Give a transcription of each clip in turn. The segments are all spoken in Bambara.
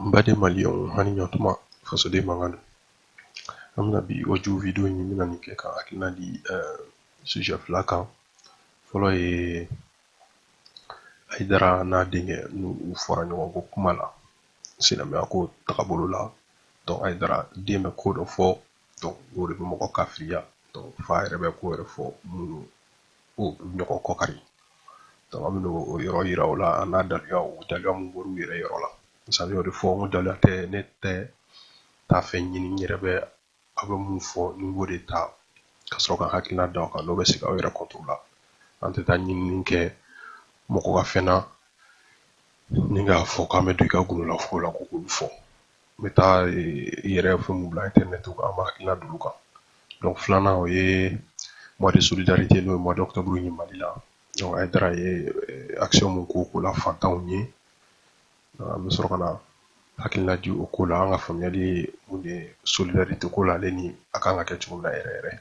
n baden maliyɛnw ani ɲɔtuma fasoden mankan don an bɛna bi audio video in bɛna nin kɛ ka hakilina di sujet fila kan fɔlɔ ye Haidara n'a denkɛ n'u u fɔra ɲɔgɔn kɔ kuma la silamɛya ko tagabolo la donc Haidara den bɛ ko dɔ fɔ donc o de bɛ mɔgɔ kafiriya donc fa yɛrɛ bɛ ko yɛrɛ fɔ minnu ko ɲɔgɔn kɔkari donc an bɛna o yɔrɔ yira o la an n'a daluya o daluya mun bɔr'u yɛrɛ yɔrɔ la misali y'o de fɔ n ko daluya tɛ ne tɛ taa fɛn ɲini n yɛrɛ bɛ aw bɛ mun fɔ ne b'o de ta ka sɔrɔ ka hakilina da o kan n'o bɛ se aw yɛrɛ contre la an tɛ taa ɲinini kɛ mɔgɔ ka fɛn na ni k'a fɔ k'an bɛ don i ka gundolafɛn la ko k'olu fɔ n bɛ taa i yɛrɛ fɛn min bila internet kan an b'a hakilina d'olu kan donc filanan o ye mois de solidarité n'o ye mois d'octobre ye Mali la donc Haidara ye action min k'o ko la fantanw ye an bɛ sɔrɔ ka na hakilina di o ko la an ka faamuyali ye mun de ye solidarité ko la ale ni a kan ka kɛ cogo min na yɛrɛ yɛrɛ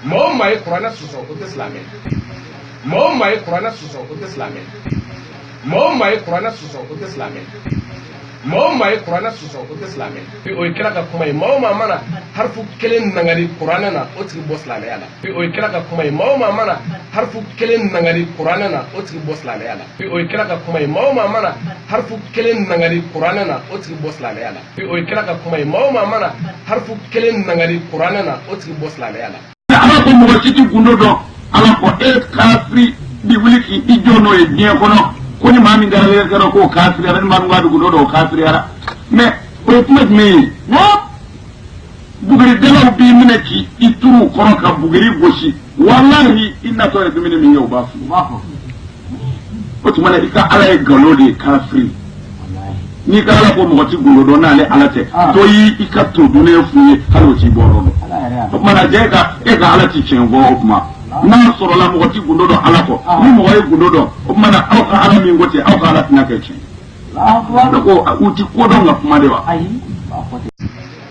maa o maa ye kuranɛ sɔsɔ o tɛ silamɛ maa o maa ye kuranɛ sɔsɔ o tɛ silamɛ maa o maa ye kuranɛ sɔsɔ o tɛ silamɛ maa o maa ye kuranɛ sɔsɔ o tɛ silamɛ o ye kira ka kuma ye maa o maa mana harifu kelen nangari kuranɛ na o tigi bɔ silamɛya la o ye kira ka kuma ye maa o maa mana harifu kelen nangari kuranɛ na o tigi bɔ silamɛya la o ye kira ka kuma ye maa o maa mana harifu kelen nangari kuranɛ na o tigi bɔ silamɛya la o ye kira ka kuma ye maa o maa mana harifu kelen nangari kuranɛ na o tigi bɔ silamɛya la ala ko mɔgɔ si ti gundo dɔn ala ko e kafiri bi wuli k'i i jɔ n'o ye diɲɛ kɔnɔ ko ni maa min kɛra yɛrɛ kɛra k'o kafiriyara ni maa min k'a bi gundo dɔn o kafiriyara mais o ye kuma jumɛn ye buguridalaw b'i minɛ k'i i turu u kɔrɔ ka buguri gosi walahi i natɔ ye dumuni min ye u b'a fɔ u b'a fɔ o tuma na i ka ala ye nkalon de ye kafiri n'i ka ala ko mɔgɔ tɛ gundo dɔn n'ale ala tɛ ah. dɔ y'i i ka to dunnen f'u ye hali o t'i bɔ yɔrɔ dɔn o tuma na jɛ ka e ka ala ti tiɲɛ fɔ o tuma n'a sɔrɔla mɔgɔ tɛ gundo dɔn ala kɔ ah. ni mɔgɔ ye gundo dɔn o tuma na aw ka ala min ko ten aw ka ala tɛna kɛ tiɲɛ ne ko u ti ko dɔn ka kuma de wa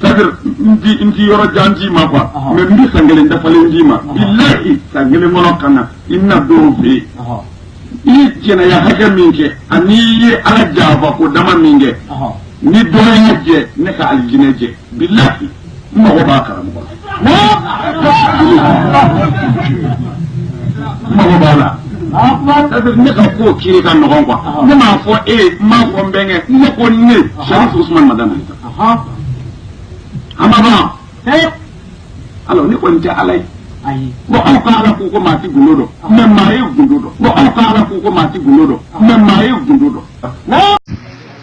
c'est-à-dire n ti n ti yɔrɔ jan d'i ma quoi Ɔhɔn. mais n bɛ san kelen dafalen d'i ma bilahi san kelen kɔnɔ ka na i nadon fɛ yen Ɔhɔn. i ye jɛnɛya hakɛ min kɛ ani i ye ala janfa ko dama min kɛ Ɔhɔn. ni dɔ ye jɛ ne ka alijinɛ jɛ bilahi n mago b'a karamɔgɔ la mago b'a la c'est-à-dire ne ka ko kiri ka nɔgɔn quoi ne m'a fɔ e ye n m'a fɔ n bɛnkɛ ne ko ne Sharif Ousmane Madani Haïdara a ma ban alors ne kɔni tɛ Ala ye bon aw ka Ala ko ko maa ti gundo dɔn mais maa ye gundo dɔn bon aw ka Ala ko ko maa ti gundo dɔn mais maa ye gundo dɔn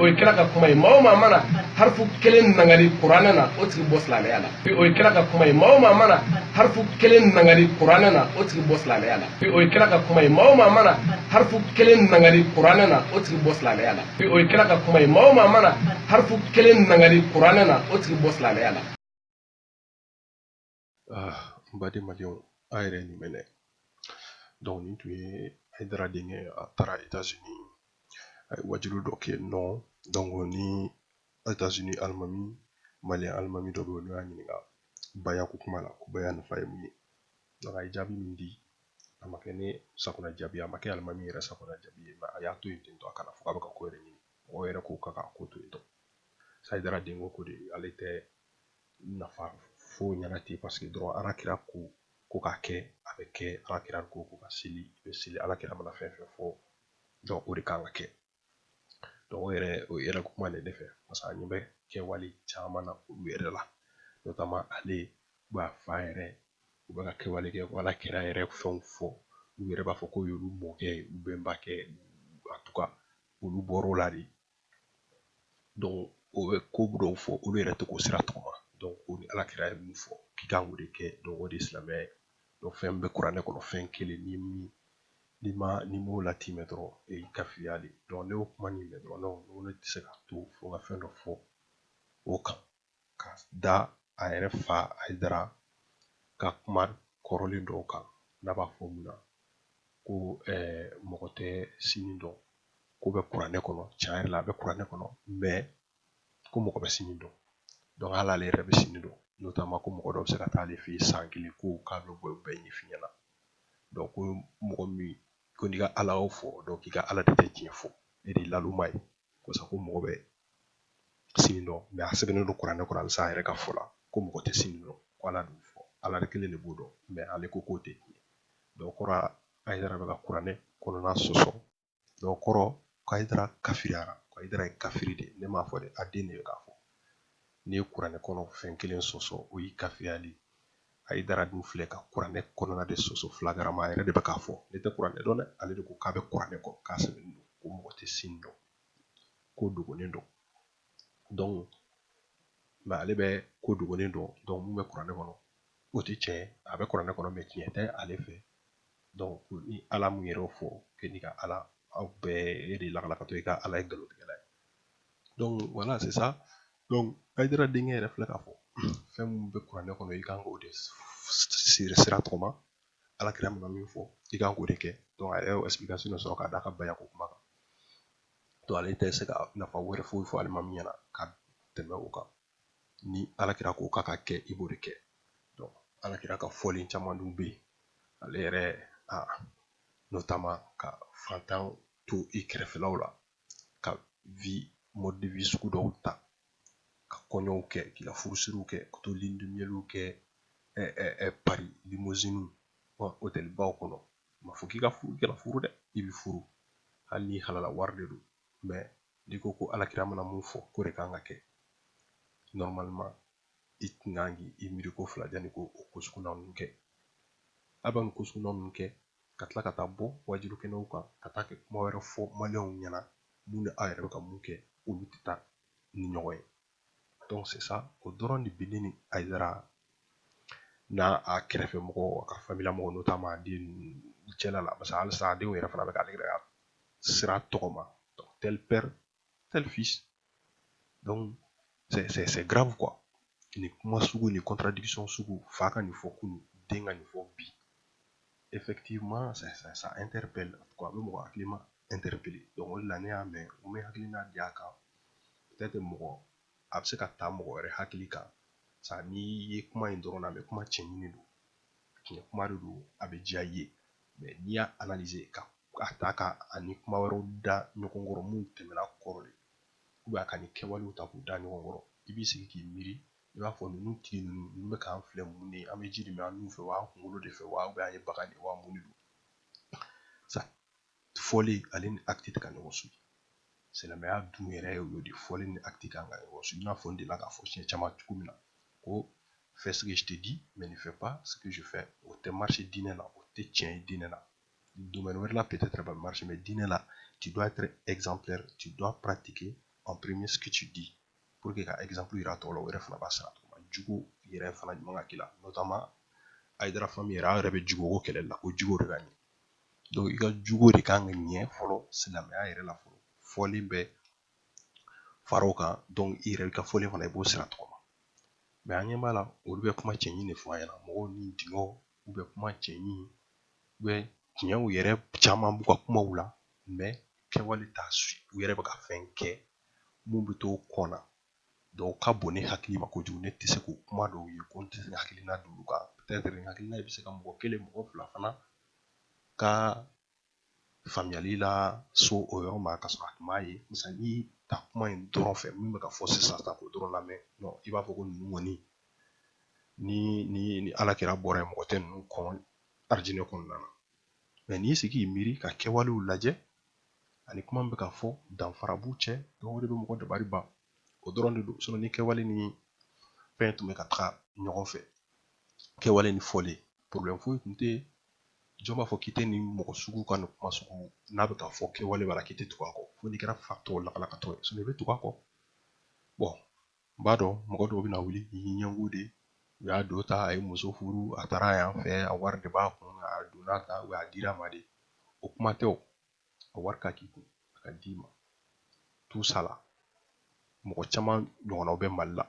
o ye kira ka kuma ye maa o maa mana harifu kelen nangari kuranɛ na o tigi bɔ silamɛya la o ye kira ka kuma ye maa o maa mana harifu kelen nangari kuranɛ na o tigi bɔ silamɛya la o ye kira ka kuma ye maa o maa mana harifu kelen nangari kuranɛ na o tigi bɔ silamɛya la o ye kira ka kuma ye maa o maa mana harifu kelen nangari kuranɛ na o tigi bɔ silamɛya la ah, n baden malidenw a yɛrɛ nin mɛnɛ donc nin tun ye ayidara denkɛ a taara etazini a ye waajuli dɔ kɛ nɔ donc ni etazini alimami maliyɛn alimami dɔ bɛ yen n'o y'a ɲininka baya ko kuma la ko baya nafa ye mun ye donc a ye jaabi min di a ma kɛ ne sakona jaabi a ma kɛ alimami yɛrɛ sakona jaabi ye mais a y'a to yen ten tɔ a kana fɔ k'a bɛ ka ko yɛrɛ ɲini mɔgɔ yɛrɛ ko k'a ka ko to yen tɔ ayidara denkɛ ko de ale tɛ nafa foyi ɲɛna ten parce que dɔrɔn ala kira ko ko k'a kɛ a bɛ kɛ ala kira ko ko ka seli i bɛ seli ala kira mana fɛn fɛn fɔ donc o de kan ka kɛ donc o yɛrɛ o yɛrɛ kuma de ne fɛ parce que an ɲɛ bɛ kɛwale caman na olu yɛrɛ la notamment ale b'a fa yɛrɛ u bɛ ka kɛwale kɛ ko ala kira yɛrɛ fɛnw fɔ u yɛrɛ b'a fɔ k'o y'olu mɔkɛ ye u bɛnbakɛ en tout cas olu bɔr'o la de u bɛ ko dɔw fɔ olu yɛrɛ tɛ k'o sira tɔgɔma donc ni ala kira ye min fɔ k'i kan k'o de kɛ o de ye silamɛya ye fɛn bɛ kuranɛ kɔnɔ fɛn kelen ni min n'i ma n'i m'o latimɛ dɔrɔn e y'i kafiriya de ne y'o kuma nin mɛn dɔrɔn ne tɛ se ka to fo ka fɛn dɔ fɔ o kan ka da a yɛrɛ fa ayidara ka kuma kɔrɔlen dɔw kan n'a b'a fɔ mun na ko mɔgɔ tɛ sini dɔn k'o bɛ kuranɛ kɔnɔ tiɲɛ yɛrɛ la a bɛ kuranɛ kɔnɔ mais ko mɔgɔ bɛ sini dɔn donc hali ale yɛrɛ bɛ sini dɔn notamment ko mɔgɔ dɔ bɛ se ka taa ale fɛ yen san kelen ko k'a bɛ bɔ bɛɛ ɲɛf'i ɲɛna donc ko mɔgɔ min ko n'i ka ala y'o fɔ donc k'i ka ala de tɛ tiɲɛ fɔ e de laluma ye ko sa ko mɔgɔ bɛ sini dɔn mais a sɛbɛnnen don kuranɛ kɔnɔ halisa a yɛrɛ ka fɔ la ko mɔgɔ tɛ sini dɔn ko ala dun fɔ ala de kelen de b'o dɔn mais ale ko k'o tɛ tiɲɛ donc o kɔrɔ ayidara bɛ ka kuranɛ kɔnɔna sɔsɔ donc o kɔrɔ ko ayidara kafiriyara ko ayidara ye kafiri de ne m'a fɔ dɛ a den de bɛ k'a fɔ n'i ye kuranɛ kɔnɔ fɛn kelen sɔsɔ o y'i kafiriya de ayidara dun filɛ ka kuranɛ kɔnɔna de sɔsɔ flagramment a yɛrɛ de bɛ k'a fɔ ne tɛ kuranɛ dɔn dɛ ale de ko k'a bɛ kuranɛ kɔ k'a sɛbɛnnen don ko mɔgɔ tɛ sini dɔn ko dogolen don donc mais ale bɛ ko dogolen dɔn donc mun bɛ kuranɛ kɔnɔ o tɛ tiɲɛ ye a bɛ kuranɛ kɔnɔ mais tiɲɛ tɛ ale fɛ donc ni ala mun yɛrɛ fɔ k'e n'i ka ala aw bɛɛ e de lakalakatɔ i ka ala ye nkalontigɛla ye donc voilà c'est ça donc Aïdara denkɛ yɛrɛ filɛ k'a fɔ fɛn minnu bɛ kuranɛ kɔnɔ i kan k'o de sira tɔgɔma ala kira mana min fɔ i kan k'o de kɛ donc a yɛrɛ y'o explication sɔrɔ k'a d'a ka bayako kuma kan donc ale tɛ se ka nafa wɛrɛ foyi fɔ alimami ɲɛna ka tɛmɛ o kan ni ala kira ko k'a ka kɛ i b'o de kɛ donc ala kira ka fɔlen caman dun bɛ yen ale yɛrɛ notamment ka fantan to i kɛrɛfɛlaw la ka vie mode de vie sugu dɔw ta ka kɔɲɔw kɛ k'i ka furusiriw kɛ ka to lune de mielw kɛ ɛ ɛ ɛ Paris limousine hôtelbaw kɔnɔ ma fɔ k'i ka furu kɛra furu dɛ i bi furu hali ni halala wari de don mais n'i ko ko alakira mana mun fɔ k'o de kan ka kɛ normalement i tun kan k'i miiri ko fila janni ko o ko suguya ninnu kɛ a bɛ nin ko suguya ninnu kɛ ka tila ka taa bɔ waajuli kɛnɛw kan ka taa kɛ kuma wɛrɛ fɔ maliyɛnw ɲɛna mun ni aw yɛrɛ bɛ ka mun kɛ olu tɛ taa ni ɲɔgɔn ye donc c'est ça o dɔrɔn de bɛ ne ni ayidara n'a a kɛrɛfɛ mɔgɔw a ka famille mɔgɔw notamment a den cɛla la parce que halisa a denw yɛrɛ fana bɛ k'ale yɛrɛ ka sira tɔgɔma donc tel père tel fils donc c'est grave quoi nin kuma sugu nin contradiction sugu fa ka nin fɔ kunun den ka nin fɔ bi effectivement ça, ça, ça interpelle en tout cas a bɛ mɔgɔ hakilima interpeller donc o de la ne y'a mɛn n bɛ hakilina di a kan peut-être mɔgɔ a bɛ se ka taa mɔgɔ wɛrɛ hakili kan sa n'i ye kuma in dɔrɔn lamɛn kuma cɛɲini don tiɲɛ kuma de don a bɛ diya i ye n'i y'a ka a ta k'a ni kuma wɛrɛw da ɲɔgɔn kɔrɔ mun tɛmɛna kɔrɔ de a ka ni kɛwalew ta k'u da ɲɔgɔn kɔrɔ i b'i sigi k'i miiri i b'a fɔ ninnu tigi ninnu ninnu bɛ k'an filɛ mun de an bɛ ji de min an nun fɛ wa kunkolo de fɛ wa an ye bagan de wa mun de don sa fɔlen ale ni acte tɛ ka ɲɔgɔn suivre silamɛya dun yɛrɛ ye o de fɔlen ni acte kan ka ɲɔgɔn suivre i n'a fɔ n delila k'a fɔ siɲɛ caman cogo min na ko fais ce que je te dis mais ne fais pas ce que je fais o tɛ marcher diinɛ la o tɛ tiɲɛ ye diinɛ la domaine wɛrɛ la peut-être bɛ marcher mais diinɛ la tu dois être exemplaire tu dois pratiquer en premier ce que tu dis pour que ka exemple yira tɔw la o yɛrɛ fana b'a sara tuma jogo yɛrɛ fana ɲuman ka k'i la notamment ayidara famille yɛrɛ aw yɛrɛ bɛ jogo ko kɛlɛli la ko jogo de ka ɲɛ donc i ka jogo de kan ka ɲɛ fɔlɔ silamɛya yɛrɛ la fɔlɔ fɔlen bɛ fara o kan i yɛrɛ ka fɔlen fana i b'o sira tɔgɔma mais an ɲɛ b'a la olu bɛ kuma cɛɲi de fɔ an ɲɛna mɔgɔw ni denkɛw u bɛ kuma cɛɲi u bɛ tiɲɛw yɛrɛ caman b'u ka kumaw la mais kɛwale t'a suit u yɛrɛ bɛ ka fɛn kɛ mun bɛ to kɔn na donc ka bon ne hakili ma kojugu ne tɛ se k'o kuma dɔw ye ko n tɛ se ka hakilina d'olu kan peut-être nin hakilina bɛ se ka mɔgɔ kelen mɔgɔ fila fana ka faamuyali lase o yɔrɔ ma ka sɔrɔ a tun m'a ye misali n'i taa kuma in dɔrɔn fɛ min bɛ ka fɔ sisan ta k'o dɔrɔn lamɛn i b'a fɔ ko ninnu kɔni ni ni ni ala kira bɔra yen mɔgɔ tɛ ninnu kɔn arijinɛ kɔnɔna na mais n'i sigi k'i miiri ka kɛwalew lajɛ ani kuma min bɛ ka fɔ danfara b'u cɛ donc o de bɛ mɔgɔ dabali ban o dɔrɔn de don sinon ni kɛwale ni fɛn tun bɛ ka taga ɲɔgɔn fɛ kɛwale ni fɔlen problème foyi tun tɛ jɔn b'a fɔ k'i tɛ nin mɔgɔ sugu ka nin kuma sugu n'a bɛ ka fɔ kɛwale b'a la k'i tɛ tugu a kɔ fo n'i kɛra fatɔ lakalakatɔ ye sinon i bɛ tugu a kɔ bon n b'a dɔn mɔgɔ dɔw bɛna wuli i y'i ɲɛngo de u y'a don ta a ye muso furu a taara yan fɛ a wari de b'a kun a donna ta u y'a dira ma de o kuma tɛ o a wari ka k'i kun a ka d'i ma tout ça là mɔgɔ caman ɲɔgɔnnaw bɛ mali la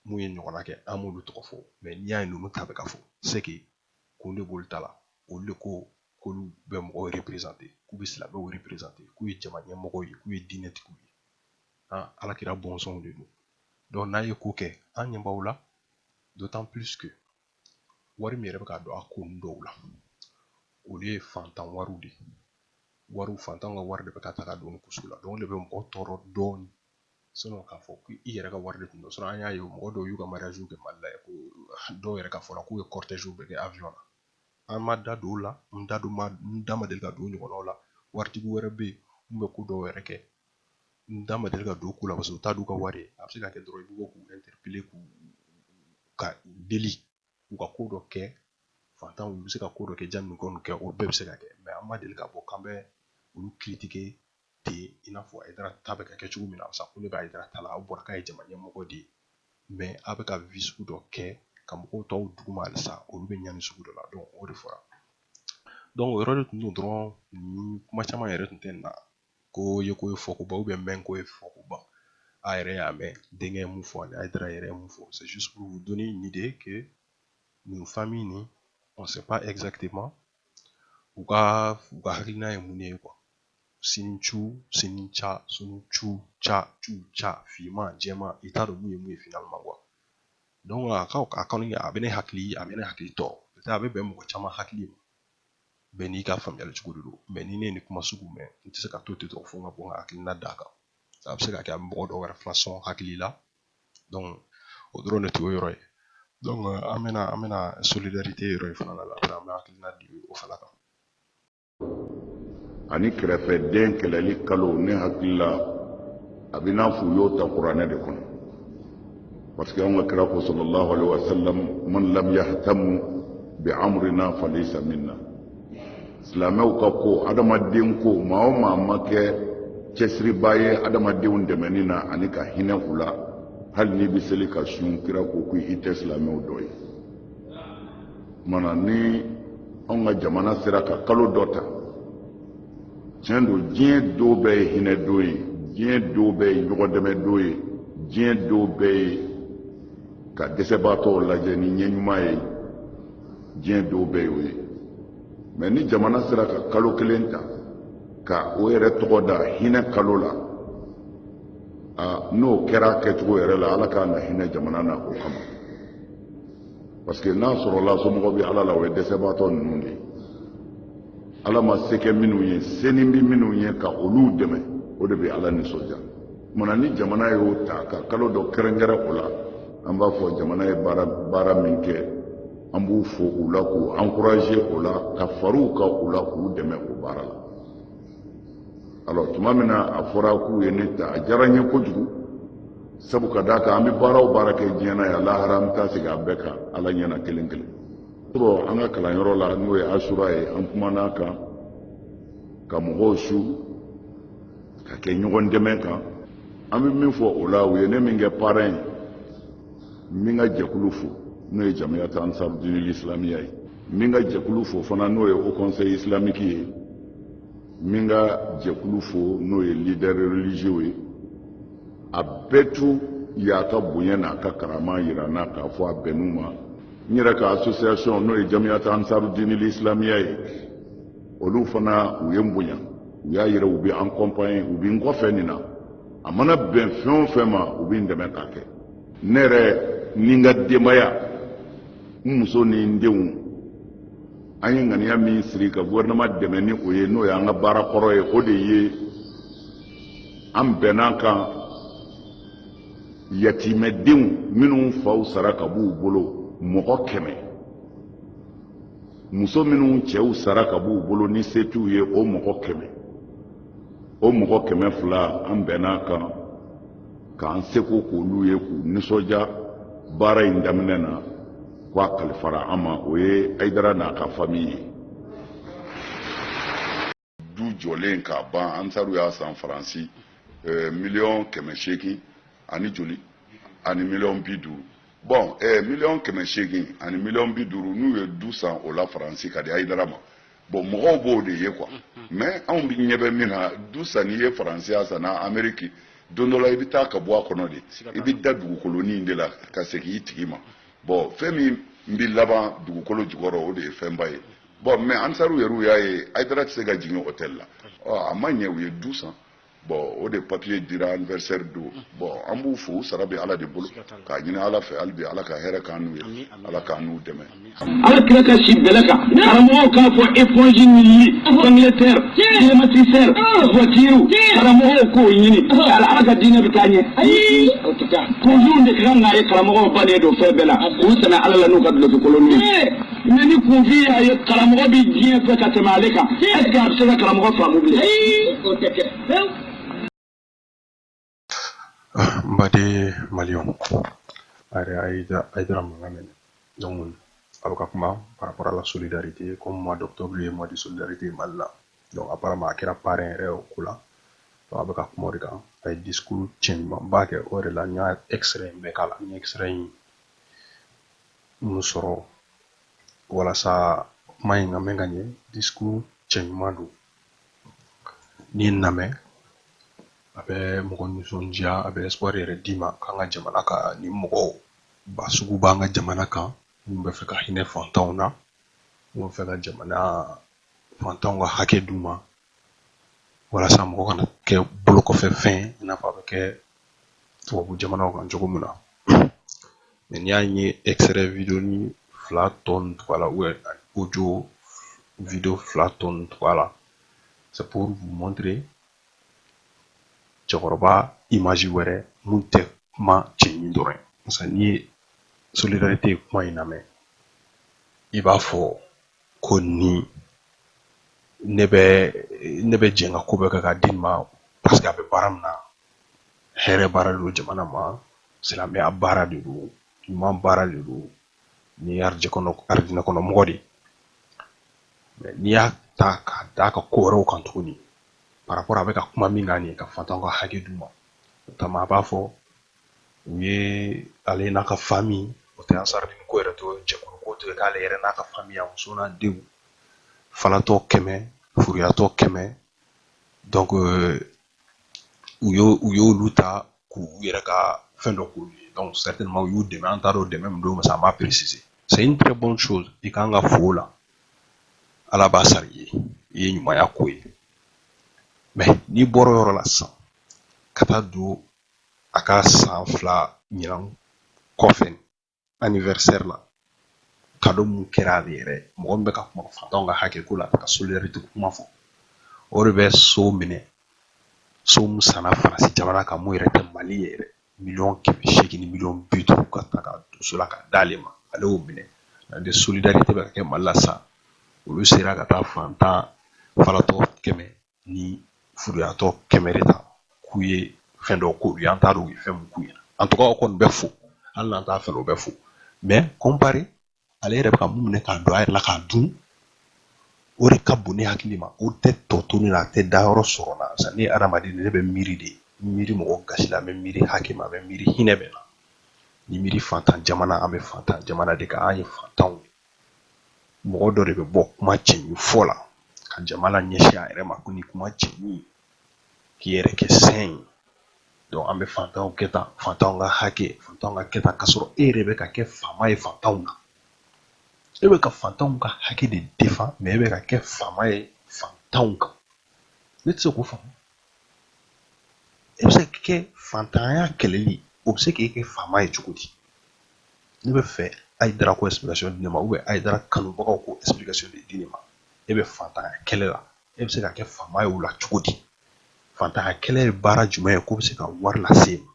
mun ye ɲɔgɔnna kɛ an m'olu tɔgɔ fɔ mais n'i y'a ye ninnu ta bɛ ka fɔ c'est que kun de b'olu ta la olu de ko k'olu bɛ mɔgɔw représenter k'u bɛ silamɛw représenter k'u ye jama ɲɛmɔgɔw ye k'u ye diinɛtigiw ye an alakira bɔnsɔnw de don donc n'a ye ko kɛ an ɲɛ b'aw la d'autant plus que wari min yɛrɛ bɛ ka don a ko ninnu dɔw la olu ye fantan wariw de ye wariw fantanw ka wari de bɛ ka ta ka don ko sugu la donc o de bɛ mɔgɔ tɔɔrɔ dɔɔnin sinon k'a fɔ ko i yɛrɛ ka wari de tun don an y'a ye mɔgɔ dɔw y'u ka mariage kɛ mali la ko dɔw yɛrɛ ka fɔra k'u ye cortège bɛɛ kɛ avion na an ma da don o la n da don ma n da ma deli ka don ɲɔgɔnw la waritigi wɛrɛ bɛ yen mun bɛ ko dɔw yɛrɛ kɛ n da ma deli ka don ko la parce que u t'a d'u ka wari a bɛ se ka kɛ dɔrɔn i bɛ bɔ k'u interpeller k'u ka deli u ka ko dɔ kɛ fantanw u bɛ se ka ko dɔ kɛ jani nin ko nin kɛ o bɛɛ bɛ se ka kɛ mais an ma deli k'a fɔ k'an bɛ olu critiquer ten i n'a fɔ Haidara ta bɛ ka kɛ cogo min na sa kun de bɛ Haidara ta la a fɔra k'a ye jama ɲɛmɔgɔ de ye mais a bɛ ka vie sugu dɔ kɛ ka mɔgɔw to duguma halisa olu bɛ ɲani sugu dɔ la donc o de fɔra donc o yɔrɔ de tun don dɔrɔn kuma caman yɛrɛ tun tɛ na ko ye ko ye fɔkoba ou bien même ko ye fɔkoba aw yɛrɛ y'a mɛn denkɛ ye mun fɔ ani Haidara yɛrɛ ye mun fɔ c'est juste pour vous donner une idée que nin famille nin on sait pas exactement u ka u ka hakilina ye mun de ye quoi sini cu sini ca sunu cu ca cu ca finman jɛman i t'a dɔn mun ye mun ye finalement quoi donc a ka a kɔni a bɛ ne hakili a bɛ ne hakili tɔ a bɛ bɛn mɔgɔ caman hakili ma bɛɛ n'i ka faamuyali cogo de don mais ni ne ye nin kuma sugu mɛn n tɛ se ka to ten dɔrɔn fo n ka bɔ n ka hakilina d'a kan a bɛ se ka kɛ a bɛ mɔgɔ dɔw wɛrɛ fana sɔn hakili la donc o dɔrɔn de tun ye yɔrɔ ye an bɛna an bɛna solidarité yɔrɔ in fana la an bɛ hakilina di o fana kan ani kɛrɛfɛden kɛlɛli kalo ne hakili la a bɛ n'a fɔ u y'o ta kuranɛ de kɔnɔ parce que an ka kira ko sallallahu alaihi wa sallam man lam yahtamu bi amrina falaysa minna silamɛw ka ko adamaden ko maa o maa ma kɛ cɛsiriba ye adamadenw dɛmɛni na ani ka hinɛ u la hali n'i bɛ seli ka sun kira ko ko i tɛ silamɛw dɔ ye mana ni anw ka jamana sera ka kalo dɔ ta tiɲɛ don diɲɛ don bɛɛ ye hinɛ don ye diɲɛ don bɛɛ ye ɲɔgɔn dɛmɛ don ye diɲɛ don bɛɛ ye ka dɛsɛbaatɔw lajɛ ni ɲɛ ɲuman ye diɲɛ don bɛɛ y'o ye mais ni jamana sera ka kalo kelen ta ka o yɛrɛ tɔgɔ da hinɛ kalo la n'o kɛra a kɛcogo yɛrɛ la ala ka kan ka hinɛ jamana na o kama parce que n'a sɔrɔla somɔgɔ bɛ ala la o ye dɛsɛbaatɔ ninnu de ye ala ma se kɛ minnu ye senin bɛ minnu ye ka olu dɛmɛ o de bɛ ala nisɔndiya mana ni jamana y'o ta ka kalo dɔ kɛrɛnkɛrɛn o la an b'a fɔ jamana ye baara min kɛ an b'u fo o la k'u encourager o la ka fara u kan o la k'u dɛmɛ o baara la alors tuma min na a fɔra k'u ye ne ta a diyara n ye kojugu sabu ka d'a kan an bɛ baara o baara kɛ diɲɛ na yan lahara an bɛ taa segin a bɛɛ kan ala ɲɛna kelen kelen an ka kalanyɔrɔ la n'o ye asura ye an kumana a kan ka mɔgɔw su ka kɛ ɲɔgɔn dɛmɛ kan an bɛ min fɔ o la u ye ne min kɛ parrain ye n bɛ n ka jɛkulu fo n'o ye jamiyat ansarudinil islamiya ye n bɛ n ka jɛkulu fo fana n'o ye haut conseil islamique ye n bɛ n ka jɛkulu fo n'o ye leader religieux ye a bɛɛ tun y'a ka bonya n'a ka karama yira n na k'a fɔ a bɛnn'u ma n yɛrɛ ka association n'o ye jamiyat ansarudinil islamiya ye olu fana u ye n bonya u y'a yira u bɛ an accompagner u bɛ n kɔfɛ nin na a mana bɛn fɛn o fɛn ma u bɛ n dɛmɛ k'a kɛ ne yɛrɛ ni n ka denbaya n muso ni n denw an ye ŋaniya min siri ka gouvernement dɛmɛ ni o ye n'o y'an ka baara kɔrɔ ye o de ye an bɛnna kan yatimɛdenw minnu faw sara ka b'u bolo mɔgɔ kɛmɛ muso minnu cɛw sara ka b'u bolo ni se t'u ye o mɔgɔ kɛmɛ o mɔgɔ kɛmɛ fila an bɛnn'a kan k'an seko k'olu ye k'u nisɔndiya baara in daminɛ na k'a kalifara an ma o ye hayidara n'a ka fami ye du jɔlen k'a ban ansaru y'a san faransi eh, miliyɔn kɛmɛ seegin ani joli ani miliyɔn bi duuru bon eh, miliyɔn kɛmɛ seegin ani miliyɔn bi duuru n'u ye du san o la faransi ka di hayidara ma bon mɔgɔw b'o de ye quoi mais anw bɛ ɲɛ bɛ min na du sanni ye faransi y'a san na ameriki don dɔ la i bɛ taa ka bɔ a kɔnɔ de i bɛ da dugukolonin de la ka segin i tigi ma bon fɛn min n bɛ laban dugukolo jukɔrɔ o de ye fɛnba ye bon mais ansaru yɛrɛw y'a ye hayidara tɛ se ka jigin hôtel la a ma ɲɛ u ye du san bon o de papier dira anniversaire don bon an b'u fo u sara bɛ ala de bolo k'a ɲini ala fɛ hali bi ala ka hɛrɛ k'an n'u ye ala k'an n'u dɛmɛ ala kira ka si bɛlɛ kan karamɔgɔw k'a fɔ éponge ni yiri angleterre climatiseur voiture karamɔgɔw k'o ɲini ala ala ka diinɛ bɛ taa ɲɛ ayi o tɛ taa kunfinw de ka kan k'a ye karamɔgɔw bannen don fɛn bɛɛ la k'u sɛmɛ ala la n'u ka duloki kolon ye Mais ni kunfin y'a ye karamɔgɔ bɛ diɲɛ fɛ ka tɛmɛ ale kan est-ce que a bɛ se ka karamɔgɔ faamu bilen baden maliens aw ye hayidara mankan mɛn hein donc a bɛ ka kuma par rapport à la solidarité comme mois d'octobre ye mois de solidarité mali la donc apparemment a kɛra parrain yɛrɛ o ko la donc a bɛ ka kuma o de kan a ye discours cɛɲumanba kɛ o yɛrɛ la n y'a extrait in bɛɛ k'a la n ye extrait in mun sɔrɔ walasa kuma in ka mɛn ka ɲɛ discours cɛɲuman don n'i y'a namɛn a bɛ mɔgɔ nisɔndiya a bɛ espoir yɛrɛ d'i ma k'an ka jamana ka nin mɔgɔba sugu b'an ka jamana kan minnu bɛ fɛ ka hinɛ fantanw na minnu bɛ fɛ ka jamana fantanw ka hakɛ d'u ma walasa mɔgɔ kana kɛ bolokɔfɛfɛn i n'a fɔ a bɛ kɛ tubabu jamanaw kan cogo min na mais n'i y'a ye extrait vidéo nin fila tɔ nin tugu a la audio vidéo fila tɔ nin tugu a la c'est pour vous montrer cɛkɔrɔba image wɛrɛ mun tɛ kuma cɛɲi dɔrɔn ye n'i ye solidarité kuma in lamɛn i b'a fɔ ko nin ne bɛ ne bɛ jɛn ka ko bɛɛ kɛ k'a dɛmɛ parce que a bɛ baara min na hɛrɛ baara de don jamana ma silamɛya baara de don ɲuman baara de don nin arijɛ kɔnɔ arijinɛ kɔnɔ mɔgɔ de n'i y'a ta k'a d'a ka ko wɛrɛw kan tuguni par rapport a bɛ ka kuma min kan nin ye ka fantanw ka hakɛ d'u ma o kama a b'a fɔ u ye ale n'a ka famille o tɛ ansardini ko yɛrɛ to jɛkulu ko to ye k'ale yɛrɛ n'a ka famille a muso n'a denw falatɔ kɛmɛ furuyatɔ kɛmɛ donc euh, u y'o u y'olu ta k'u yɛrɛ ka fɛn dɔ k'olu ye donc certainement u y'u dɛmɛ an t'a dɔn dɛmɛ min don parce que an m'a préciser c'est une très bonne chose i kan ka fo la ala b'a sara i ye i ye ɲumanya ko ye mais n'i bɔra yɔrɔ la sisan ka taa don a ka san fila ɲinan kɔfɛ anniversaire la cadeau mun kɛra ale yɛrɛ mɔgɔ min bɛ ka kuma fantanw ka hakɛ ko la ka solidarité kuma fɔ o de bɛ so minɛ so mun sanna faransi jamana kan mun yɛrɛ tɛ mali ye yɛrɛ miliyɔn kɛmɛ seegin ni miliyɔn bi duuru ka ta ka don so la ka d'ale ma ale y'o minɛ de solidarité bɛ ka kɛ mali la sisan olu sera ka taa fantan falatɔ kɛmɛ ni furuyatɔ kɛmɛ de ta k'u ye fɛn dɔ k'u ye an t'a dɔn u ye fɛn mun k'u ye en tout cas o kɔni bɛ fo hali n'an t'a fɛ o bɛ fo mais comparé ale yɛrɛ bɛ ka mun minɛ k'a don a yɛrɛ la k'a dun o de ka bon ne hakili ma o tɛ tɔ to ne na a tɛ dayɔrɔ sɔrɔ la parce que ne ye adamaden ne bɛ miiri de n miiri mɔgɔ gasi la n bɛ miiri hakɛ ma n bɛ miiri hinɛ bɛ na ni miiri fantan jamana an bɛ fantan jamana de kan an ye fantanw ye mɔgɔ dɔ de bɛ bɔ kuma cɛɲi fɔ la ka jamana ɲɛsin a yɛrɛ ma ko ni kuma cɛɲi k'i yɛrɛ kɛ saint ye donc an bɛ fantanw kɛ tan fantanw ka hakɛ fantanw ka kɛ tan k'a sɔrɔ e yɛrɛ bɛ ka kɛ faama ye fantanw na e bɛ ka fantanw ka hakɛ de défend mais e bɛ ka kɛ faama ye fantanw kan ne tɛ se k'o faamu e bɛ se ka kɛ fantanya kɛlɛli o bɛ se k'e kɛ faama ye cogo di ne bɛ fɛ hayidara k'o explication di ne ma ou bien hayidara kanubagaw k'o explication de di ne ma e bɛ fantanya kɛlɛ la e bɛ se ka kɛ faama ye o la cogo di fantanya kɛlɛ ye baara jumɛn ye k'o bɛ se ka wari lase e ma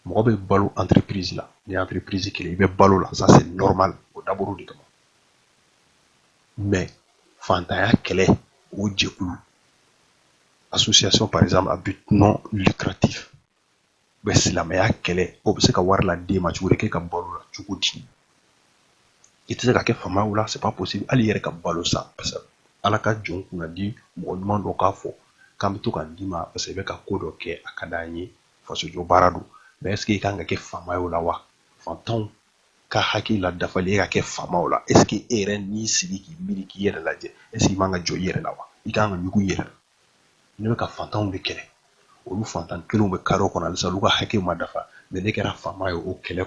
mɔgɔ bɛ balo entreprise la ni entreprise kelen i bɛ balo la ça c'est normal o dabɔra o de kama mais fantanya kɛlɛ o jɛkulu association par exemple à but non lucratif bɛ silamɛya kɛlɛ o bɛ se ka wari lad'e ma cogo di k'e ka balo la cogo di i tɛ se ka kɛ faama ye o la c'est pas possible hali i yɛrɛ ka balo sa parce que ala ka jɔn kunna di mɔgɔ ɲuman dɔ k'a fɔ k'an bɛ to ka d'i ma parce que i bɛ ka ko dɔ kɛ a ka d'an ye fasojɔ baara don mais est ce que i kan ka kɛ faama ye o la wa fantanw ka hakɛ ladafali e ka kɛ faama ye o la est ce que e yɛrɛ n'i sigi k'i miiri k'i yɛrɛ lajɛ est ce que i man ka jɔn i yɛrɛ la wa i kan ka ɲugun i yɛrɛ la ne bɛ ka fantanw de kɛlɛ olu fantan kelenw bɛ carré kɔnɔ halisa olu ka hakɛ ma dafa mais ne kɛra faama ye o kɛlɛ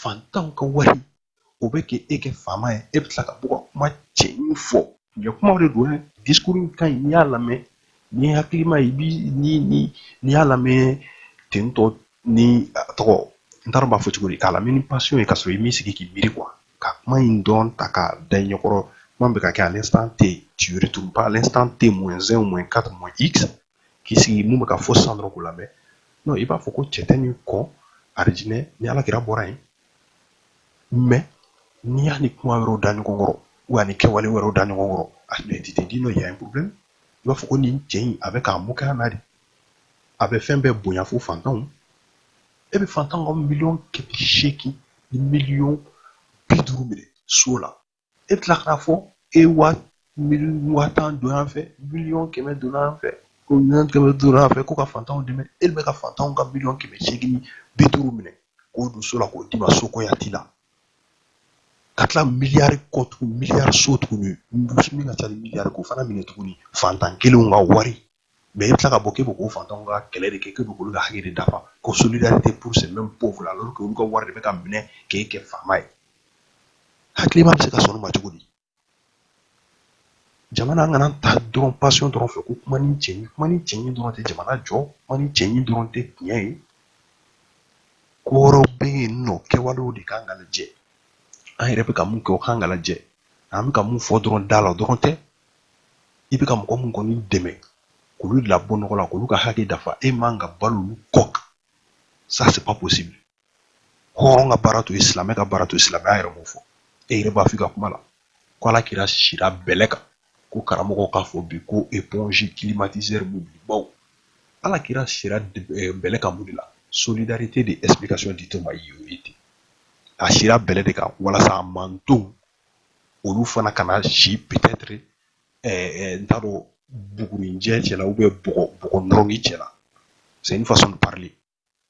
fantanw ka wari o bɛ kɛ e kɛ faama ye e bɛ tila ka bɔ ka kuma cɛɲi fɔ nin ye kuma de don dɛ discours in ka ɲi n'i y'a lamɛn ni hakilima i bi n'i y'a lamɛn ten tɔ ni tɔgɔ n t'a dɔn b'a fɔ cogo di k'a lamɛn ni passion ye ka sɔrɔ i m'i sigi k'i miiri quoi ka kuma in dɔn ta k'a da i ɲɛkɔrɔ kuma bɛ ka kɛ à l'instant t tu retournes pas à l'instant t moins un moins quatre moins x k'i sigi mun bɛ ka fɔ sisan dɔrɔn k'o lamɛn non i b'a fɔ ko cɛ tɛ nin kɔ arijinɛ ni alakira bɔra yen mais n'i y'a ni kuma wɛrɛw da ɲɔgɔn kɔrɔ ani kɛwale wɛrɛw da ɲɔgɔn kɔrɔ tu te dis non il y a un problème i b'a fɔ ko nin cɛ in a bɛ ka moquer an na de a bɛ fɛn bɛɛ bonya fo fantanw e bɛ fantanw ka miliyɔn kɛmɛ seegin ni miliyɔn bi duuru minɛ so la e tila k'a fɔ e ye waa miliyɔn waa tan don yan fɛ miliyɔn kɛmɛ don yan fɛ ko miliyɔn kɛmɛ don yan fɛ ko ka fantanw dɛmɛ e bɛ ka fantanw ka miliyɔn kɛmɛ seegin ni bi duuru minɛ k'o don so la k'o d'i ma so kɔya t'i la ka tila miliyari kɔ tuguni miliyari so tuguni min ka ca ni miliyari k'o fana minɛ tuguni fantan kelenw ka wari mais i bɛ tila ka bɔ k'i bɛ k'o fantanw ka kɛlɛ de kɛ k'i bɛ k'olu ka hakɛ de dafa ko solidarité pour ces mêmes pauvres là alors que olu ka wari de bɛ ka minɛ k'e kɛ faama ye hakilima bɛ se ka sɔn o ma cogo di jamana an kana taa dɔrɔn passion dɔrɔn fɛ ko kuma ni cɛɲi kuma ni cɛɲi dɔrɔn tɛ jamana jɔ kuma ni cɛɲi dɔrɔn tɛ tiɲɛ ye ko wɛrɛw bɛ yen non kɛwalew de kan ka lajɛ an yɛrɛ bɛ ka mun kɛ o kan ka lajɛ an bɛ ka mun fɔ dɔrɔn da la dɔrɔn tɛ i bɛ ka mɔgɔ mun kɔni dɛmɛ k'olu de labɔ nɔgɔ la k'olu ka hakɛ dafa e man ka balo olu kɔ kan ça c'est pas possible hɔrɔn ka baara t'o ye silamɛ ka baara t'o ye silamɛya yɛrɛ m'o fɔ e yɛrɛ b'a f'i ka kuma la ko ala kira sira bɛlɛ kan ko karamɔgɔ k'a fɔ bi ko éponge climatiseur mobilibaw ala kira sira bɛlɛ kan mun de la solidarité de explication di to ma y'o ye ten a sira bɛlɛ de kan walasa a mantonw olu fana kana si peut-être n t'a dɔn bugurinjɛ cɛla ou bien bɔgɔ nɔrɔni cɛla c'est une façon de parler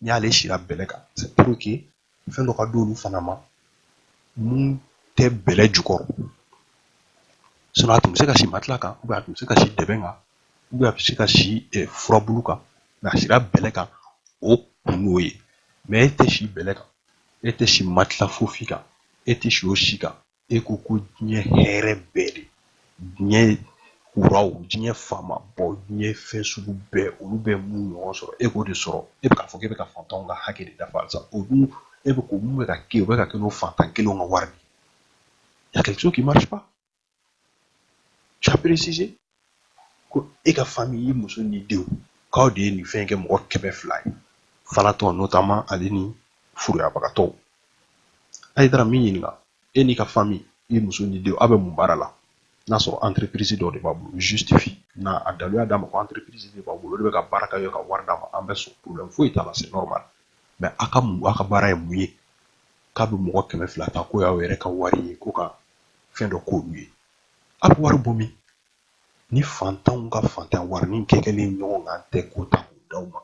n'i y'ale sira bɛlɛ kan c'est pour que fɛn dɔ ka d'olu fana ma mun tɛ bɛlɛ jukɔrɔ sinon a tun bɛ se ka si matila kan ou bien a tun bɛ se ka si dɛbɛn kan ou bien a bɛ se ka si furabulu kan mais a sira bɛlɛ kan o kun y'o ye mais e tɛ si bɛlɛ kan E tɛ si matila fosi kan e tɛ si o si kan e ko ko diɲɛ hɛrɛ bɛɛ de diɲɛ kuraw diɲɛ faamaba diɲɛ fɛn sugu bɛɛ olu bɛ mun ɲɔgɔn sɔrɔ e k'o de sɔrɔ e bɛ k'a fɔ k'e bɛ ka fantanw ka hakɛ de dafa sa o dun e bɛ ko mun bɛ ka kɛ o bɛ ka kɛ n'o fantan kelenw ka wari de ye hakili k'i ma Tu as précisé ko e ka famille i muso n'i denw k'aw de ye nin fɛn kɛ mɔgɔ kɛmɛ fila ye falatɔ notamment ale ni furuyabagatɔw ayidara n b'i ɲininka e n'i ka famille i muso n'i denw aw bɛ mun baara la n'a sɔrɔ entreprise dɔ de b'a bolo justifie na a daluya d'an ma ko entreprise de b'a bolo o de bɛ ka baara kɛ ka wari d'a ma an bɛ sɔn problème foyi t'a la c'est normal mais a ka mun a ka baara ye mun ye k'a bɛ mɔgɔ kɛmɛ fila ta k'o y'aw yɛrɛ ka wari ye ko ka fɛn dɔ k'olu ye a bɛ wari bɔ min ni fantanw ka fantan warinin kɛkɛlen ɲɔgɔn kan tɛ k'o ta k'o d'aw ma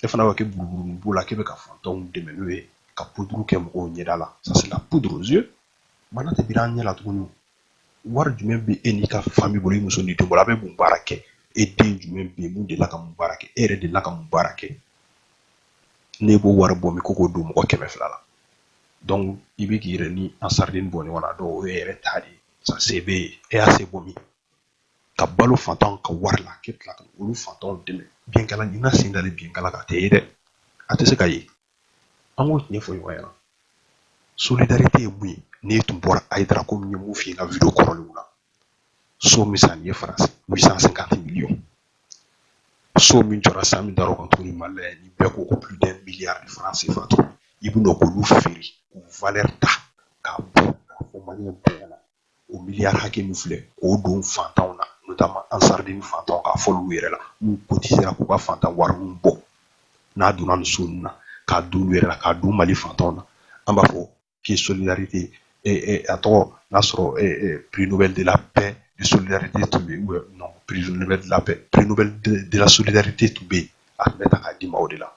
e fana b'a kɛ buruburu b'o la k'e bɛ ka fantanw dɛmɛ n'o ye ka poudre kɛ mɔgɔw ɲɛda la ça c'est la poudre aux yeux mana tɛ bir'an ɲɛ la tuguni wari jumɛn bɛ e n'i ka famille bolo i muso n'i den bolo a bɛ mun baara kɛ e den jumɛn bɛ yen min delila ka mun baara kɛ e yɛrɛ delila ka mun baara kɛ n'e b'o wari bɔ min ko k'o don mɔgɔ kɛmɛ fila la donc i bɛ k'i yɛrɛ ni ansarudini bɔ ɲɔgɔn na donc o y'i yɛrɛ ta de ye sa se b'e ye e y'a se bɔ min ka balo fantanw ka wari la k'e tila ka olu fantanw dɛmɛ binkala ɲinina sen dalen binkala kan a tɛ ye dɛ a tɛ se ka ye an k'o tiɲɛ fɔ ɲɔgɔn ɲɛna solidarité ye mun ye n'i tun bɔra ayidara komi n ye min f'i ye n ka video kɔrɔlenw na so min san i ye faransi 850 millions so min jɔra san min dar'o kan tuguni mali la ni bɛɛ ko ko plus d'un milliard de francs CFA tuguni i bɛna k'olu feere k'u valeur ta k'a bɔ k'a fɔ maliyɛn bɛɛ ɲɛna o miliyari hakɛ min filɛ k'o don fantanw na notamment ansarudini fantanw k'a fɔ olu yɛrɛ la n'u cotisera k'u ka fantan warininw bɔ n'a donna nin so ninnu na k'a don olu yɛrɛ la k'a don mali fantanw na an b'a fɔ k'i ye solidarité kɛ a tɔgɔ n'a sɔrɔ prix Nobel de la paix de solidarité tun bɛ yen non prix Nobel de la paix prix Nobel de la solidarité tun bɛ yen a tun bɛ ta k'a d'i ma o de la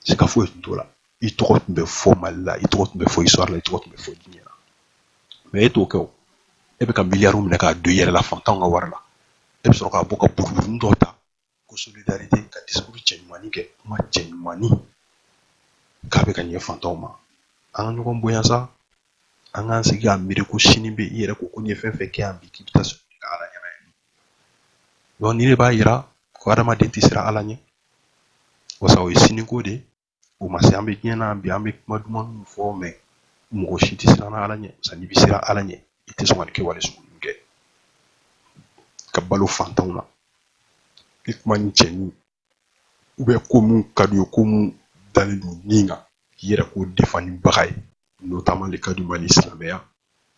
siga foyi tun t'o la i tɔgɔ tun bɛ fɔ Mali la i tɔgɔ tun bɛ fɔ histoire la i tɔgɔ tun bɛ fɔ diɲɛ na mais e t'o kɛ o e bɛ ka miliyariw minɛ k'a don i yɛrɛ la fantanw ka wari la e bɛ sɔrɔ k'a bɔ ka buruburu dɔ ta ko solidarité ka discours cɛɲumannin kɛ kuma cɛɲumannin k'a bɛ ka ɲɛ fantanw ma an ka ɲɔgɔn bonya sa an k'an sigi k'an miiri ko sini bɛ i yɛrɛ ko ko n'i ye fɛn fɛn kɛ yan bi k'i bɛ taa sɔrɔ ka ala ɲɛna ye donc nin de b'a yira ko hadamaden tɛ siran ala ɲɛ wasa o ye siniko de ye o ma se an bɛ diɲɛ na bi an bɛ kuma duman minnu fɔ mais mɔgɔ si tɛ siran ala ɲɛ sa n'i bɛ siran ala ɲɛ i tɛ sɔn ka nin kɛwale sugu ninnu kɛ ka balo fantanw na i kumanin cɛɲi ou bien ko min ka di u ye ko mun dalen don min kan k'i yɛrɛ k'o de fa ni baga ye notamment le cas du Mali silamɛya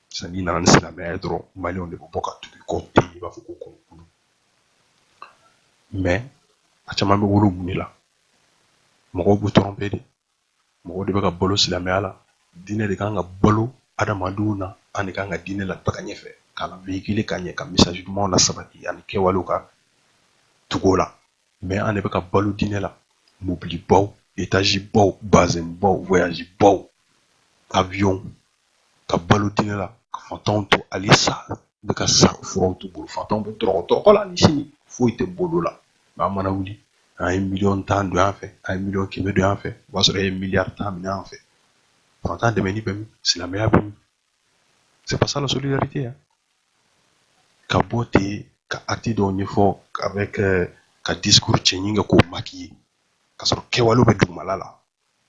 sisan n'i nana ni silamɛya ye dɔrɔn maliyɛnw de bɛ bɔ ka tugu i kɔ ten i b'a fɔ ko kɔnɔkulu mais a caman bɛ wolo mun de la mɔgɔw b'u tromper de mɔgɔw de bɛ ka balo silamɛya la diinɛ de kan ka balo adamadenw na an de kan ka diinɛ lataga ɲɛfɛ k'a la véhiculer ka ɲɛ ka message dumanw lasabati ani kɛwalew ka tugu o la mais an de bɛ ka balo diinɛ la mobilibaw etazibaw bazɛnbaw voyazibaw avion ka balo diinɛ la ka fantanw to hali sa bɛ ka sa furaw t'u bolo fantanw bɛ tɔɔrɔko la ni sini foyi tɛ bolo la an mana wuli an ye miliyɔn tan don yan fɛ an ye miliyɔn kɛmɛ don yan fɛ o b'a sɔrɔ e ye miliyari tan minɛ yan fɛ fantan dɛmɛni bɛ min silamɛya bɛ min c'est pas ça la solidarité hein. ka bɔ ten ka acte dɔw ɲɛfɔ avec euh, ka discours cɛɲi kɛ k'o maquiller ka sɔrɔ kɛwalew bɛ dugumala la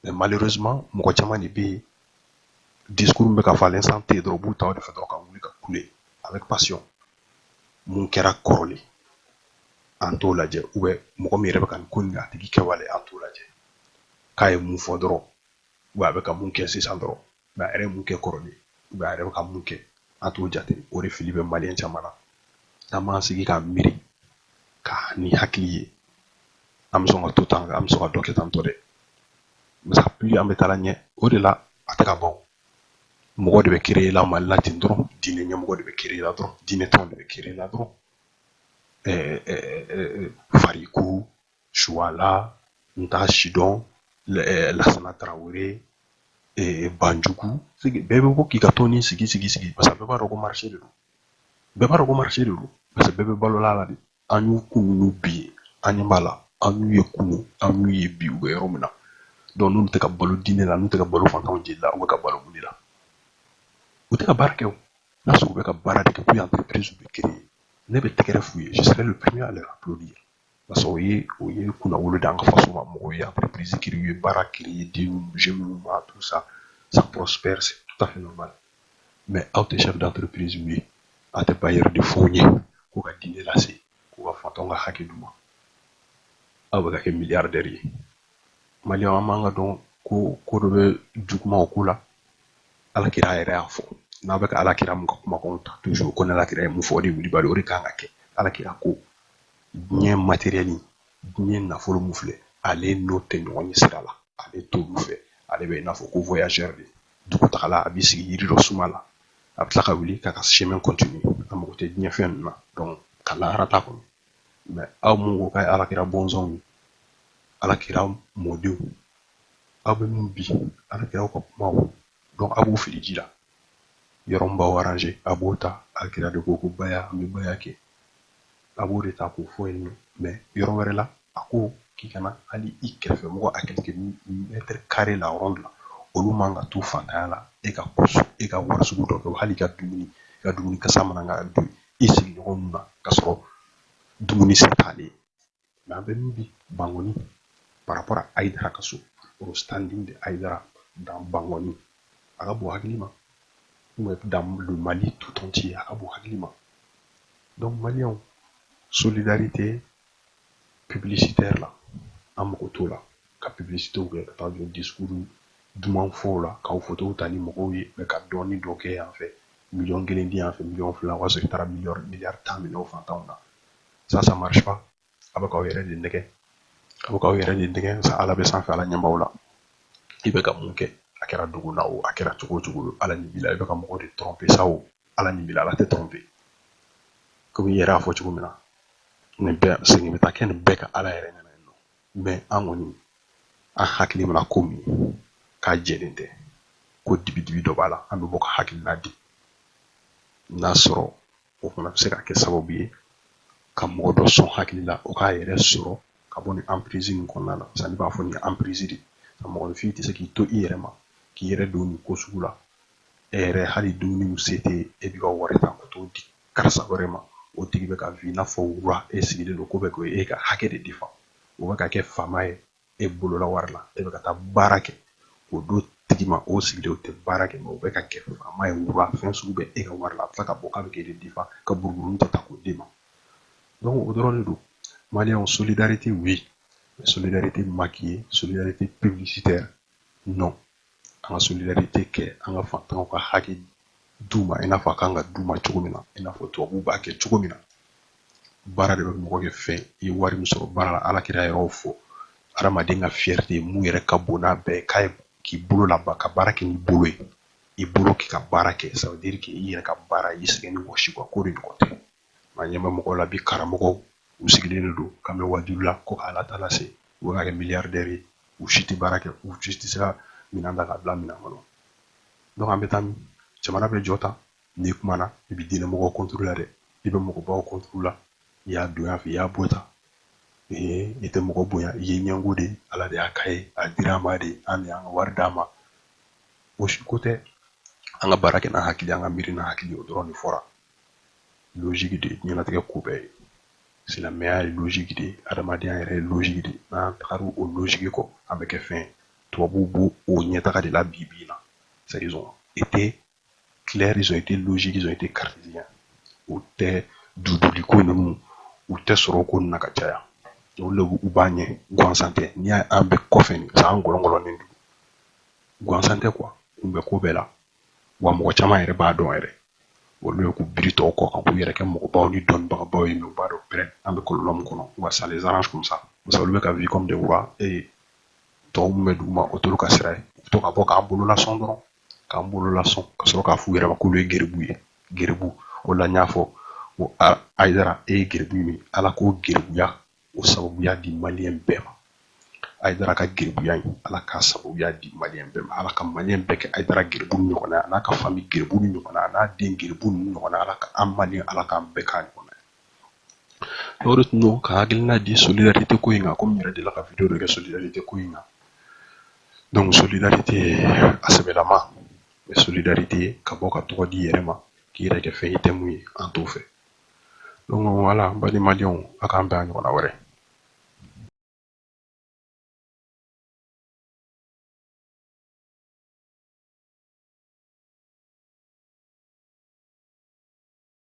mais malheureusement mɔgɔ caman de bɛ yen discours bɛ ka falen san tɛ dɔrɔn u b'u ta o de fɛ dɔrɔn ka wuli ka kule avec passion mun kɛra kɔrɔlen an t'o lajɛ ou bien mɔgɔ min yɛrɛ bɛ ka nin ko nin a tigi kɛwale an t'o lajɛ k'a ye mun fɔ dɔrɔn wa a bɛ ka mun kɛ sisan dɔrɔn nka a yɛrɛ ye mun kɛ kɔrɔlen ou bien a yɛrɛ bɛ ka mun kɛ an t'o jate o de fili bɛ maliyɛn caman na n'an m'an sigi k'an miiri ka ni hakili ye an bɛ sɔn ka to tan an bɛ sɔn ka dɔ kɛ tan tɔ dɛ parce que plus an bɛ taa la ɲɛ o de la a tɛ ka ban mɔgɔ de bɛ créer la mali la ten dɔrɔn diinɛ ɲɛmɔgɔ de bɛ créer la dɔrɔn diinɛ tɔn de bɛ créer la dɔrɔn fariku suwala n t'a si dɔn lasana tarawele banjugu bɛɛ bɛ bɔ k'i ka tɔnnin sigi sigi sigi parce que bɛɛ b'a dɔn ko marché de don bɛɛ b'a dɔn ko marché de don parce que bɛɛ bɛ balola la de an y'u kun ninnu bi an ɲɛ b'a la an y'u ye kunu an y'u ye bi u bɛ yɔrɔ min na donc n'u tɛ ka balo diinɛ la n'u tɛ ka balo fantanw jeli la u bɛ ka balo mun de la u tɛ ka baara kɛ o n'a sɔrɔ u bɛ ka baara de kɛ ko entreprise bɛ créer ne bɛ tɛgɛrɛ f'u ye je serai le premier à leur applaudir parce que o ye o ye kunnawolo d'an ka faso ma mɔgɔw ye entreprise créer u ye baara créer ye den jeunes minnu ma tout ça ça prospère c'est tout à fait normal mais aw tɛ chef d'entreprise ye aw tɛ bailleur de fonds ye ko ka diinɛ lase ko ka fantanw ka hakɛ d'u ma aw bɛ ka kɛ milliardaire ye maliyɛnw an b'an ka dɔn ko ko dɔ bɛ juguman o ko la alakira yɛrɛ y'a fɔ n'a bɛ ka alakira mun ka kumakanw ta toujours ko n'alakira ye mun fɔ o de ye wulibali o de kan ka kɛ alakira ko diɲɛ matériel diɲɛ nafolo min filɛ ale n'o tɛ ɲɔgɔn ye sira la ale t'olu fɛ ale bɛ i n'a fɔ ko voyageur de dugutagala a b'i sigi yiri dɔ suma la a bɛ tila ka wuli k'a ka chemin continuer a mago tɛ diɲɛ fɛn ninnu na donc ka lahara t'a kɔnɔ mais aw mun ko k'aw ye alakira bɔnsɔnw ye alakira mɔdenw aw bɛ min bi alakira ka kumaw donc a b'o fili ji la yɔrɔ min b'aw arranger a b'o ta a kira de ko ko baya an bɛ baya kɛ a b'o de ta k'o fɔ yen nɔ mais yɔrɔ wɛrɛ la a ko k'i kana hali i kɛrɛfɛ mɔgɔ à quelques mètres carrés à la ronde la olu man ka to fantanya la e ka kusu e ka wari sugu dɔ kɛ hali ka dumuni i ka dumuni kasa man kan ka don i sigiɲɔgɔn ninnu na k'a sɔrɔ dumuni se t'ale ye mais an bɛ min bi bangɔni par rapport à ayidara ka so au standing de ayidara dans bangɔni a ka bon hakili ma ou dans le mali tout entier a ka bon hakili ma donc maliyɛnw solidarité publicitaire la an mago t'o la ka publicitew kɛ ka taa jɔ discours duman fɔw la k'aw fotow ta ni mɔgɔw ye mais ka dɔɔni dɔ kɛ yan fɛ miliyɔn kelen di yan fɛ miliyɔn fila o y'a sɔrɔ i taara miliyɔn miliyari tan minɛ o fantanw na sa ça marche pas a bɛ k'aw yɛrɛ de nɛgɛn a bɛ k'aw yɛrɛ de nɛgɛn sa ala bɛ sanfɛ ala ɲɛ b'aw la i bɛ ka mun kɛ a kɛra dugu la o a kɛra cogo o cogo ala ɲɛ b'i la i bɛ ka mɔgɔ de tromper sa o ala ɲɛ b'i la ala tɛ tromper komi i yɛrɛ y'a fɔ cogo min na nin bɛɛ segin bɛ taa kɛ nin bɛɛ ka ala yɛrɛ ɲɛna yen nɔ mais an kɔni an hakili mana ko min k'a jɛlen tɛ ko dibidibi dɔ b'a la an bɛ bɔ ka hakilina di n'a sɔrɔ o fana bɛ se ka kɛ sababu ye ka mɔgɔ dɔ sɔn hakili la o k'a yɛrɛ sɔrɔ ka bɔ nin emprise nin kɔnɔna na sani b'a fɔ nin ye emprise de ka mɔgɔninfin tɛ se k'i to i yɛrɛ ma k'i yɛrɛ don nin ko sugu la e yɛrɛ hali dumuni se tɛ e b'i ka wari ta ka t'o di karisa wɛrɛ ma o tigi bɛ ka vivre i n'a fɔ roi e sigilen don k'o bɛ ka e ka hakɛ de défendre o bɛ ka kɛ faama ye e bolola wari la e bɛ ka taa baara kɛ k'o d'o tigi ma o sigilen o tɛ baara kɛ mais o bɛ ka kɛ faama ye roi fɛn sugu bɛɛ e ka wari la a bɛ tila ka bɔ k'a bɛ k'e de défendre ka buruburunin ta k'o d'i ma donc o dɔrɔn de don maliyɛnw solidarité oui mais solidarité maquillée solidarité publicitaire non an ka solidarité kɛ an ka fantanw ka hakɛ d'u ma i n'a fɔ a kan ka d'u ma cogo min na i n'a fɔ tubabuw b'a kɛ cogo min na baara de bɛ mɔgɔ kɛ fɛn i ye wari min sɔrɔ baara la ala kira yɛrɛ y'a fɔ adamaden ka fierté ye mun yɛrɛ ka bon n'a bɛɛ k'a ye k'i bolo labɛn ka baara kɛ n'i bolo ye i bolo k'i ka baara kɛ ça veut dire que i yɛrɛ ka baara i sɛgɛn ni wɔsi quoi k'o de ɲɔgɔn tɛ mais an ɲɛ bɛ mɔgɔw la bi karamɔgɔw u sigilen de don k'an bɛ wajibi la ko k'ala ta lase u bɛ ka kɛ milliardaire ye u si tɛ baara kɛ u si tɛ se ka minɛn ta k'a bila minɛn kɔnɔ donc an bɛ taa min jamana bɛ jɔ tan n'i kumana i bɛ diinɛ mɔgɔw contre la dɛ i bɛ mɔgɔbaw contre la i y'a don yan fɛ i y'a bɔ tan ee i tɛ mɔgɔ bonya i ye ɲɛngo de ala de y'a k'a ye a dira ma de an de y'an ka wari d'a ma o si ko tɛ an ka baara kɛ n'an hakili an ka miiri n'an hakili o dɔrɔn de fɔra logiki de ye diɲɛlatigɛ ko bɛɛ ye silamɛya ye logiki de ye adamadenya yɛrɛ ye logiki de ye n'an tagara o logiki kɔ an bɛ kɛ fɛn ye tubabuw b'o o ɲɛtaga de la bi bi in na c'est ils ont été clairs ils ont été logiques ils ont été cartésiens u tɛ duduli ko ninnu u tɛ sɔrɔ ko na ka caya olu le u b'an ɲɛ gansan tɛ ni an bɛ kɔfɛ nin san gɔlɔngɔlɔnin don gansan tɛ quoi kun bɛ ko bɛɛ la wa mɔgɔ caman yɛrɛ b'a dɔn yɛrɛ olu ye k'u biri tɔw kɔ ka k'u yɛrɛ kɛ mɔgɔbaw ni dɔnnibagabaw ye mais u b'a dɔn pɛrɛn an bɛ kɔlɔn min kɔnɔ wa ça les arrange comme ça parce olu bɛ ka vivre comme des rois et tɔw min bɛ duguma o t'olu ka sira ye u to ka bɔ k'an bolo lasɔn dɔrɔn k'an bolo lasɔn ka sɔrɔ k'a f'u yɛrɛ ma k'olu ye geribu ye geribu o la n y'a fɔ ko ayidara e ye geribu min ala k'o geribuya o sababuya di maliyɛn bɛɛ ma ayidara ka geribuya in ala k'a sababuya di maliyɛn bɛɛ ma ala ka maliyɛn bɛɛ kɛ ayidara geribu ɲɔgɔnna a n'a ka fami geribu ɲɔgɔnna a n'a den geribu ninnu ɲɔgɔnna ala ka an maliyɛn ala k'an bɛɛ k'a ɲɔgɔnna ye o de tun don n ka hakilina di solidarite ko in kan komi n yɛrɛ delila ka video dɔ kɛ solidarite ko in kan donc solidarite a sɛbɛlama mais solidarite ka bɔ ka tɔgɔ d'i yɛrɛ ma k'i yɛrɛ kɛ fɛn i tɛ min ye an t'o fɛ donc voilà n balimadenw a k'an bɛn a ɲɔgɔnna wɛrɛ